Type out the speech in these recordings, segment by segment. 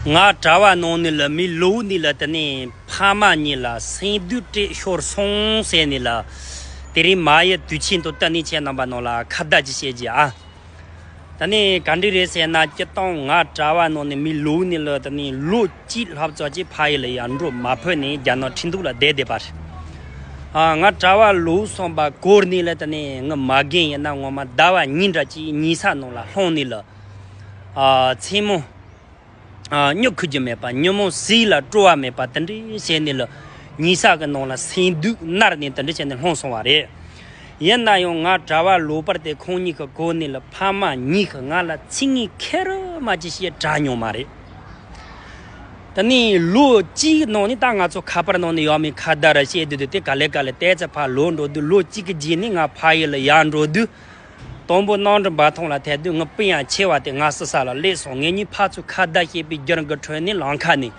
ང་གྲྭ་བ་ནང་ནས་ལ་མི་ལོའུ་ནི་ལ་དེ་ནས་ཕ་མ་གཉིས་ལ་སེང་རྡུལ་སྤྲད་ཤོར་སོང་ཟེར་ནི་ལ། དེ་རིང་མ་ཡི་དུས་ཆེན་དུ་ཏི་ནི་ཁྱེད་རྣམ་པ་ནང་ལ་ཁ་བརྡ་ཅིག་བྱེད་ཀྱི་ཨ། དེ་ནས་ག་འདྲི་རེད་ཟེར་ན་སྐྱི་སྟོང་ང་གྲྭ་བ་ནང་ནས་མི་ལོའུ་ནི་ལ་དེ་ནས་ལོ་གཅིག་ལྷག་ཙག་ཅིག་ཕ་ཡི་ལ་ཡར་འགྲོ་མ་ཕོད་ནས་རྒྱ་ནག་ཁྲིན་ཏུའུ་ལ་བསྡད་བསྡད་པར། ང་གྲྭ་བ་ལོའུ་སོང་པ་སྐོར་ནི་ལ་དེ་ནས་ངི་མ་རྒན་ཡིན་ན་ངོ་མ་ཟླ་བ་གཉིས་འདྲ་གཅིག་ཉིས་ས་ནང་ལ་ལྷུང་ནི་ལ། མཚན་མོ། སྨྱུག་ཁུ་རྒྱུ་མེད་པ་ཉོན་མོངས་ཟིལ་ལ་སྤྲོ་བ་མེད་པ་དེ་འདྲའི་བྱས་ནས་ལོ་ཉིས་ཤས་ཀྱི་ནང་ལ་སེམས་སྡུག་བསྔལ་ནི་དེ་འདྲ་བྱས་ནས་ལྷུང་སོང་བ་རེད། ཡིན་ན་ཡང་ང་གྲྭ་བ་ལོ་པར་དེ་ཁོང་གཉིས་ཀྱི་གོ་ནས་ལ་ཕ་མ་གཉིས་ཀྱིས་ང་ལ་ཚིག་ངན་ཁེར་མ་གྱིས་ཞེས་གྲགས་མྱོང་མ་རེད། དེ་ནས་ལོ་གཅིག་གི་ནང་ནས་ད་ང་ཚོ་ཁ་པར་ནང་ནས་ཡག་མིན་ཁ་བརྡ་རེ་བྱེད་དུས་དེ་ག་ལེ་ག་ལེ་བལྟས་ཚེ་ཕ་ལོག་འགྲོ་དུས་ལོ་གཅིག་གི་རྗེས་ནས་ང་ཕ་ཡུལ་ལ་ཡར་འགྲོ་དུས། དང་པོ་སྣང་འགྲིབ་འབའ་ཐང་ལ་དད་འདུན་ངུ་སྤུན་ཡང་ཆེ་བ་དེ་སྔགས་སི་ས་ལ་སླེབས་སོང་ངེད་གཉིས་ཕར་ཚུར་ཁ་བརྡ་བྱས་པའི་རྒྱུར་མགུལ་ཁྲོལ་ནས་ལང་ཁ་ནས།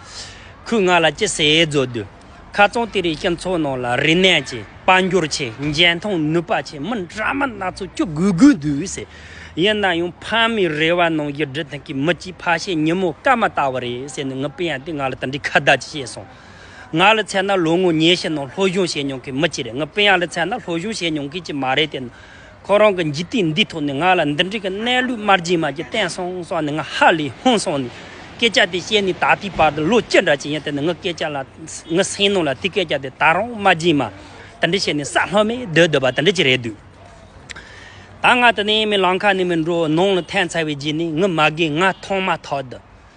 ཁོས་ང་ལ་ཅི་ཟེར་བརྗོད་དུས། ཁ་རྩང་དེ་རིང་སྤྱི་ཚོགས་ནང་ལ་རིན་གནས་ཆེ་དཔའ་འགྱུར་ཆེ་འཇོན་ཐང་ནུས་པ་ཆེ་མི་འདྲ་མི་སྣ་ཚོས་སྐྱོ་དགུས་དགུས་འདུག་ཟེར། ཡིན་ན་ཡང་ཕ་མའི་རེ་བ་ནང་བཞིན་འབྲི་ཐང་གི་མི་གཅིག་ཕ་ཤེས་ཉིན་མོ་སྐར་མ་ལྟ་བུ་རེད་ཟེར་ནས་ངུ་སྤུན་ཡང་དེ་ང་ལ་དེ་འདྲའི་ཁ་བརྡ་ཅིག་བྱས་སོང། ང་ལ་མཚན་ན་ལོ་ངོ་ཉེ་ཤས་ནང་སློབ་སྦྱོང་བྱས་མྱོང་མཁན་མི་གཅིག་རེད་ངུ་སྤུན་ཡང་ལ་མཚན་ན་སློབ་སྦྱོང་བྱས་མྱོང་མཁན་གཅིག་མ་རེད་དེ་ནི་ཁོ་རང་གི་འཇིག་རྟེན་འདིའི་ཐོག་ནས་ང་ལ་འདི་འདྲའི་གི་གནས་ལུགས་དམར་རྗེན་མ་གཅིག་བསྟན་སོང་ས་ནི་ང་ཧ་ལས་ཧོན་སོང་ནས་སྐད་ཆ་དེ་བཤད་ནས་ད་ལྟའི་བར་དུ་ལོ་ཅི་འདྲ་ཅི་ཡིན་དེ་ནི་ངའི་སྐད་ཆ་ལ་ངའི་སེམས་ནང་ལ་དེ་སྐད་ཆ་དེ་ད་རུང་དམར་རྗེན་མ་དེ་འདྲ་བཤད་ནས་ས་ལྷོད་མེད་སྡོད་སྡོད་པ་དེ་འདྲ་ཅིག་རེད་འདུག་ད་ང་དེ་ནས་མི་ལང་ཁ་ནས་མི་འགྲོ་ནང་ལ་ཐན་ཚར་བའི་རྗེས་ནས་ངའི་མ་རྒན་ང་མཐོང་མ་ཐག་ཏུ།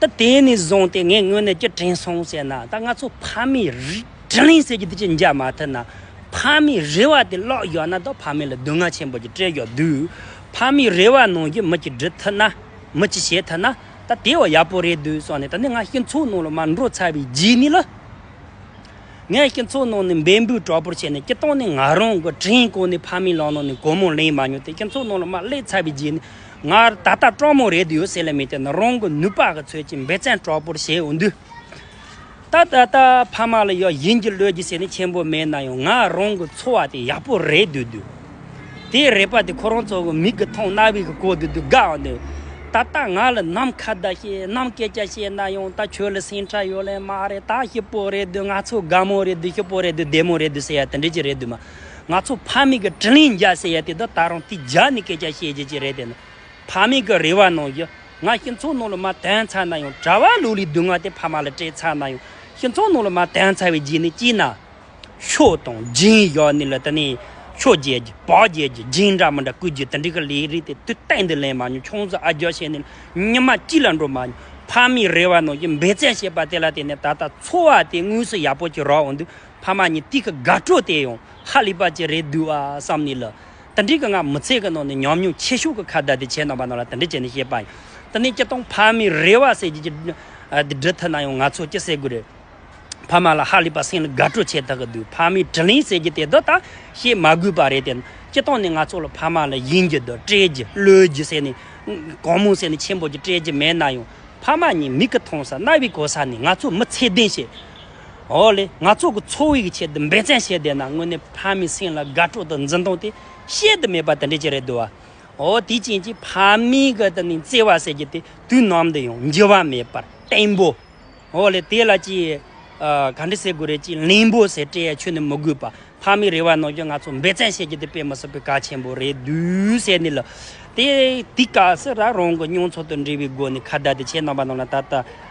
ད་དེ་ནས་བཟུང་སྟེ་ངའི་སྔོན་ནས་ཀྱི་དྲན་སོང་ཟེར་ན་ད་ང་ཚོ་ཕ་མའི་རི་དྲན་ལིང་ཟེར་གྱི་དེ་ཅི་འཇགས་མ་ཐུབ་ན། ཕ་མའི་རེ་བ་དེ་ཀློག་ཡོད་ན་ད་ཕ་མའི་ལ་སྡུག་བསྔལ་ཆེན་པོ་ཅིག་སྤྲད་ཡོད་དུས། ཕ་མའི་རེ་བ་ནང་གི་མི་ཅིག་འབྲི་ཐུབ་ན། མི་ཅིག་བྱེད་ཐུབ་ན་ད་དེ་བས་ཡག་པོ་རེད་འདུག་སོགས་ནས་ད་ནི་ང་སྤྱི་མཚོ་ནང་ལ་མ་འགྲོ་ཚར་བའི་རྗེས་ནས་ལ། ངས་སྤྱི་མཚོ་ནང་ནས་འབད་འབུས་དྲག་པོར་བྱས་ནས་སྤྱི་བཏང་ནས་ང་རང་གི་དྲན་གོང་ནས་ཕ་མའི་ལག་ནང་ནས་སྒོར་མོ་ལེན་མ་མྱོང་སྟེ་སྤྱི་མཚོ་ནང་ལ་མ་སླེབས་ཚར་བའི་རྗེས་ནས་ངར་ད་ལྟ་སྤྲང་མོ་རེད་ཡོད་སྲིད་ལ་མི་དེ་ནི་རང་གི་ནུས་པ་གི་ཚོད་ཀྱིས་འབེ་ཚན་དྲག་པོར་བྱས་ཡོང་དུས། ད་ད་ད་ཕ་མ་ལ་ཡང་ཡིན་གྱི་ལོས་ཀྱི་ཟེར་ནས་ཆེན་པོ་མེད་ན་ཡང་ངའི་རང་གི་འཚོ་བ་དེ་ཡག་པོ་རེད་འདོད་དུས། དེའི་རེད་པ་དེ་ཁོ་རང་ཚོ་གི་མིག་གི་མཐོང་རྣ་བའི་གི་གོ་དུས་དུས་དགའ་འང་འདུག་ད་ལྟ་ང་ལ་ནམ་མཁའ་ཟླ་ཤེས་ནམ་སྐད་ཆ་བཤད་ན་ཡང་ད་ཁྱོད་ལ་སེམས་ཁྲལ་ཡོད་ལེ་མ་རེད་ད་ཞིབ་པོ་རེད་འདོད་ང་ཚོ་དགའ་མོ་རེད་འདོད་ཞིབ་པོ་རེད་འདོད་བདེ་མོ་རེད་འདོད་ཟེར་ཡ་དེ་འདྲས་ཀྱི་རེད་འདོད་མ། ང་ཚོ་ཕ་མེས་ཀྱི་དྲིན་ལན་འཇལ་ཟེར་ཡ་དེ་དག་ད་རུང་དེ་རྒྱ་ནས་སྐད་ཆ་བཤད་རྒྱུ་ཅི་རེད་དེ་ནི་ཕ་མེས་ཀྱི་རེ་བ་གནང་རྒྱུ་ང་ཤིང་ཚོང་ནང་ལ་མ་དོན་ཚར་ན་ཡང་གྲྭ་བ་ལུག་ལི་སྡུག་བསྔལ་དེ་ཕ་མ་ལ་སྤྲད་ཚར་ན་ཡང་ཤིང་ཚོང་ནང་ལ་མ་དོན་ཚར་བའི་རྗེས་ནས་སྐྱིད་ན་ཤོག་དང་སྦྱིན་བཞག་ནས་ལ་དེ་ནས་ཤོག་རྒྱལ་རྒྱུ་བག་རྒྱལ་རྒྱུ་སྦྱིན་འདྲ་མི་འདྲ་བསྐུར་རྒྱུ་དེ་འདྲའི་གི་ལས་རིགས་དེ་དུས་གཏན་དུ་ལེན་མ་མྱོང་ཆུང་ཟོག་ཨ་རྒྱ་བྱས་ནས་ཉི་མ་གཅིག་ལ་འགྲོ་མ་མྱོང་ཕ་མེས་རེ་བ་གནང་རྒྱུ་འབད་བརྩོན་བྱས་པ་དེ་ལ་དེ་ནས་ད་ལྟ་འཚོ་བ་དེ་དངོས་སུ་ཡག་པོ་ཅིག་རག་འོང་དུས་ཕ་མ་གཉིས་དུས་ཀྱི་དགའ་སྤྲོ་བསྟན་ཡོང་ཧ་ལས་པ་ཅི་རེད་འདུག་ཨ་བསམ་ནས་ལ་དྭ་འདྲིས་ཀྱི་ངང་མི་ཚེ་གི་ནང་ནས་ཉམས་མྱོང་ཆེ་ཤོས་ཀྱི་ཁ་བརྡ་དེ་བྱས་གནང་པ་རྣམས་ལ་དྭ་འདྲི་བྱས་ནས་བཤད་པ་ཡིན། དེ་ནས་སྤྱི་སྟངས་ཕ་མའི་རེ་བ་གསལ་བྱེད་ཀྱི་དེ་འབྲི་ཐུབ་ན་ཡང་ང་ཚོས་ཅི་ཟེར་དགོས་རེད། ཕ་མ་ལ་ཧ་ལས་པ་སེམས་ལ་དགའ་སྤྲོ་ཆེ་ཐག་གི་འདུག་ཕ་མའི་དྲི་ལན་ཟེར་གྱི་དེ་དག་ད་བཤད་མ་དགོས་པ་རེད་དེ། སྤྱི་སྟངས་ནི་ང་ཚོ་ལ་ཕ་མ་ལ་ཡིན་རྒྱུ་དང་སྤྲད་རྒྱུ་བློས་རྒྱུ་ཟེར་ནས་གང་མང་ཟེར་ནས་ཆེན་པོ་ཅིག་སྤྲད་རྒྱུ་མེད་ན་ཡང་ཕ་མ་གཉིས་མིག་གི་མཐོང་ས་རྣ་བའི་གོ་ས་ནས་ང་ཚོ་མི་ཚད་ལྡན་ཞིག་ཨོ་ལེ། ང་ཚོ་གི་འཚོ་བའི་ཆེད་དུ་འབད་བརྩོན་བྱས་བསྡད་ན་དངོས་གནས་ཕ་མའི་སེམས་ལ་དགའ་སྤྲོ་དང་འཛིན་སྟངས་དེ་བཤད་དུ་མེད་པ་དེ་འདྲ་ཅིག་རེད་འདུག་བ། ཨོ་དེའི་རྐྱེན་གྱིས་ཕ་མའི་གི་དེ་ནས་བརྩེ་བ་ཟེར་རྒྱུ་དེ་དུས་ནམ་དུ་ཡང་འགྱུར་བ་མེད་པར་བརྟན་པོ། ཨོ་ལེ་དེ་ལ་ཅི། ག་འདྲི་ཟེར་དགོས་རེད་ཅེས་གླེན་པོ་ཟེར་སྤྲད་ཡ་ཆོད་ནས་མི་དགོས་པར་ཕ་མའི་རེ་བ་གནང་རྒྱུ་ང་ཚོ་འབད་བརྩོན་བྱེད་རྒྱུ་དེ་དཔེ་མི་སྲིད་པའི་གལ་ཆེན་པོ་རེད་འདུག་ཟེར་ནས་ལ། དེ་དུས་སྐབས་སུ་རང་གི་མྱོང་ཚོར་དང་འབྲེལ་བའི་སྒོ་ནས་ཁ་བརྡ་དེ་བྱས་གནང་བ་རྣམས་ལ་ད་ལྟ